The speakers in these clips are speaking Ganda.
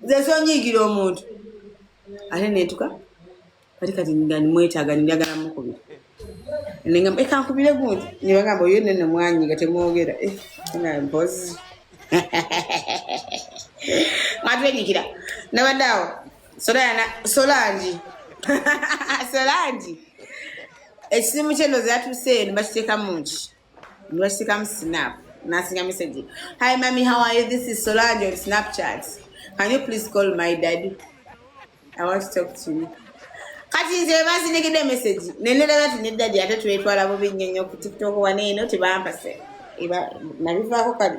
nze sonyiigira omuntu ate netuka kati kati nga nimwetaaga ninjagala mukubira nengamba ekankubire gundi nebagamba oyo nene mwanyi nga temwogera eh, nga mpozi mwatwenyikira nabadde awo solana solangi solangi ekisimu kyeno zatuuse eno bakiteekamu nki Nashika snap. Nasinya message. Hi mommy, how are you? This is Solange on Snapchat. Can you please call my daddy? I want to talk to you. Kati nze bazinigide message. Nenera bati ne daddy ate twetwala bubi nnyo ku TikTok waneeno tebampase. Iba nabivako kali.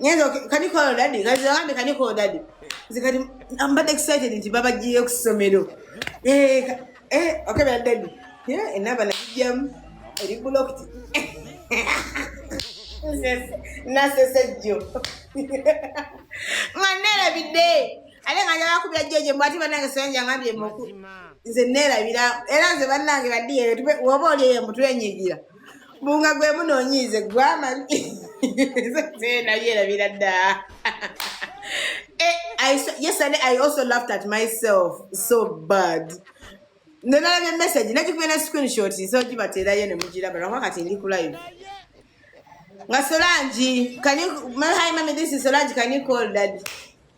Nyenzo can you call daddy? Kazi wangu can you call daddy? Zikati I'm but excited nti baba jiye kusomero. Eh eh okay bad daddy. Yeah, enaba na jam eri blocked. Yes. Na sese jo. Manera bidde. Ale nga njala kubya jeje mbati banange senja ngambye moku. Nze nera bira. Era nze banange badiye tube wobo lye mutwe nyigira. bunga gwe munonyiize gwamanyi nayerabira dda yesterday i also laughed at myself so bad nenalabye message nakikubera screenshot so gibateerayo ne mugiraba lwakuba kati ndi ku live nga solangi can you my hi mami this is solangi can you call daddy